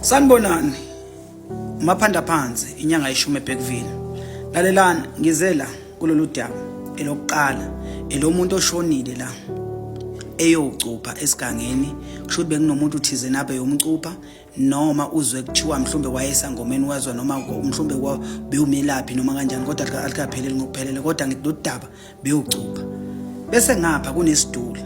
Sanibonani. Maphanda phansi inyanga yeshumi eBeckville. Lalelani ngize la kulolu daba elokuqala elomuntu oshonile la eyocupha esigangeni kusho ukuthi bekunomuntu uthize nabe yomcupha noma uzwe kuthiwa mhlawumbe wayesangomeni wezwa noma mhlawumbe bewumelaphi noma kanjani kodwa alikapheleli ngokuphelele kodwa ngidudaba bewucupha bese ngapha kunesitulo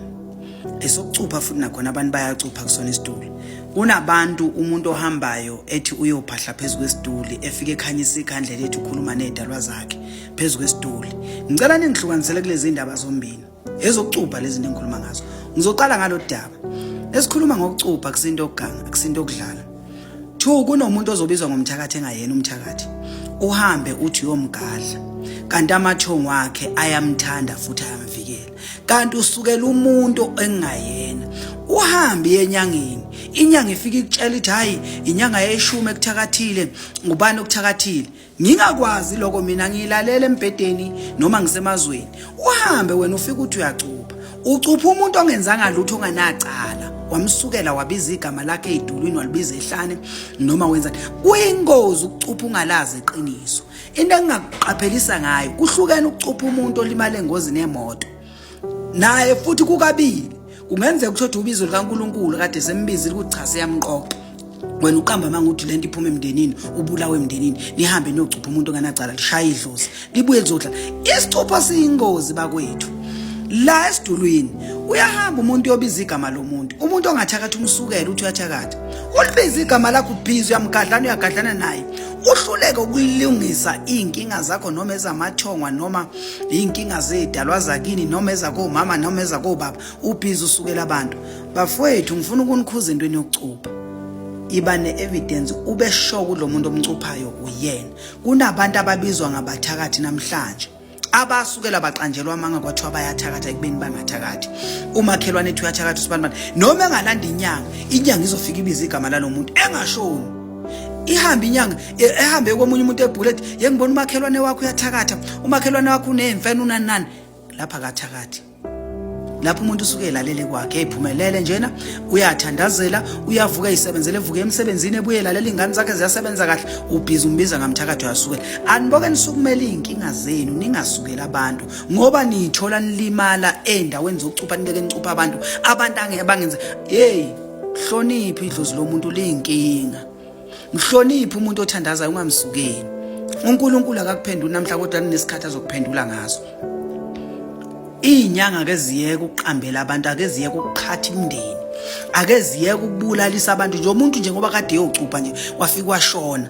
esokucupha futhi nakhona abantu bayacupha kusona isitulo kunabantu umuntu ohambayo ethi uyophahla phezu kwesituli efike ekhanyisa ikhandle lethu ukhuluma nezidalwa zakhe phezu kwesituli ngicela ningihlukanisele kulezi ndaba zombili ezokucupha lezi nto engikhuluma ngazo ngizoqala ngalolu daba esikhuluma ngokucupha kusinto okuganga akusinto okudlala Two kunomuntu ozobizwa ngomthakathi engayena umthakathi. Uhambe uthi uyomgadla. Kanti amathongo wakhe ayamthanda futhi ayamvikela. Kanti usukela umuntu engayena. Uhambe yenyangeni. Inyanga ifika ikutshela ithi hayi inyanga yeshumi ekuthakathile ngubani okuthakathile. ngingakwazi lokho mina ngiyilalela embhedeni noma ngisemazweni uhambe wena ufike uthi uyacupha ucupha umuntu ongenzanga lutho onganacala wamsukela wabiza igama lakhe edulwini walibiza ehlane noma wenza kuyingozi ukucupha ungalazi iqiniso into engingakuqaphelisa ngayo kuhlukene ukucupha umuntu olimale engozini yemoto naye futhi kukabili kungenzeka ukuthi othi ubizo likaNkuluNkulu kade sembizile ukuthi cha siyamqoqa wena uqamba manga uthi lento iphuma emndenini ubulawe emndenini nihambe niyocupha umuntu onganacala lishaya idlozi libuye lizodla isicupha siyingozi bakwethu la esidulwini uyahamba umuntu yobiza igama lomuntu umuntu ongathakathi umsukela uthi uyathakatha ulibiza igama lakho ubhizi uyamgadlana uyagadlana naye uhluleke ukulungisa iy'nkinga zakho noma ezamathongwa noma iy'nkinga zedalwa zakini noma ezakomama noma ezakobaba ubhizi usukela abantu bafowethu ngifuna ukunikhuza entweni yokucupha iba ne-evidence ube sure kulo muntu omcuphayo uyena kunabantu ababizwa ngabathakathi namhlanje abasukela baqanjelwa amanga kwathiwa bayathakatha ekubeni bangathakathi umakhelwane ethi uyathakatha usibanibani noma engalanda inyanga inyanga izofika ibiza igama lalo muntu engashoni ihambe inyanga ehambe komunye umuntu ebhule ethi ye ngibona umakhelwane wakho uyathakatha umakhelwane wakho uneyimfene unanani lapha akathakathi lapho umuntu usuke elalele kwakhe eyiphumelele njena uyathandazela uyavuka eyisebenzele evuke emsebenzini ebuye lalela iy'ngane zakhe ziyasebenza kahle ubhizi umbiza ngamthakathi uyasukela aniboke nisukumele iy'nkinga zenu ningasukeli abantu ngoba niyithola nilimala ey'ndaweni zokucupha nibeke nicupha abantu abantu angebangenza yeyi hloniphi idlozi lomuntu liyinkinga mhloniphe umuntu othandazayo ungamsukeli uNkulunkulu akakuphenduli namhla kodwa kunesikhathi azokuphendula ngaso izinyanga ke ziyeke ukuqambela abantu ake ziyeke ukuqhatha imndeni ake ziyeke ukubulalisa abantu nje umuntu nje ngoba kade yocupha nje wafika washona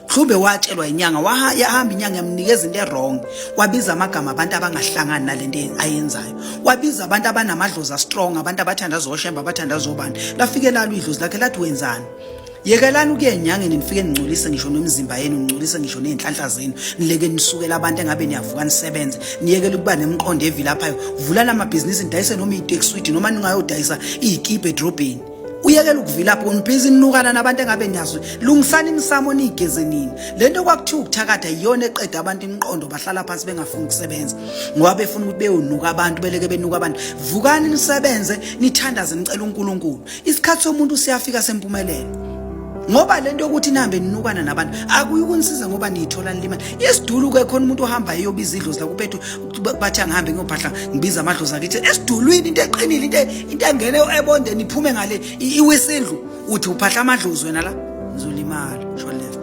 mhlawumbe watshelwa inyanga wahamba inyanga yamnikeza into erong wabiza amagama abantu abangahlangani nale nto ayenzayo wabiza abantu abanamadlozi astrong abantu abathanda zoshemba abathanda zobani lafike lalo idlozi lakhe lathi wenzani yekelani ukuya enyangeni nifike ningcolise ngisho nomzimba yenu ningcolise ngisho ney'nhlanhla zenu nileke nisukela abantu engabe niyavuka nisebenze niyekele ukuba nemqondo evilaphayo vulani amabhizinisi nidayise noma iy'tekiswidi noma ningayodayisa iy'kibha edrobheni uyekela ukuvilapha unibhizi ninukana nabantu engabe niyazi lungisani imisamo niyigeze nini le nto kwakuthiwa ukuthakatha yiyona eqeda abantu imiqondo bahlala phansi bengafuni ukusebenza ngoba befuna ukuthi beyonuka abantu beleke benuka abantu vukani nisebenze nithandaze nicela unkulunkulu isikhathi somuntu siyafika sempumelelo ngoba lento yokuthi nihambe ninukana nabantu akuyi ukunisiza ngoba niyithola nilima isidulu ke khona umuntu ohamba eyobiza idlozi la kuphethu bathi angihambe ngiyophahla ngibiza amadlozi akithi esidulwini into eqinile into into engene ebonde niphume ngale iwisindlu uthi uphahla amadlozi wena la ngizolimala sho left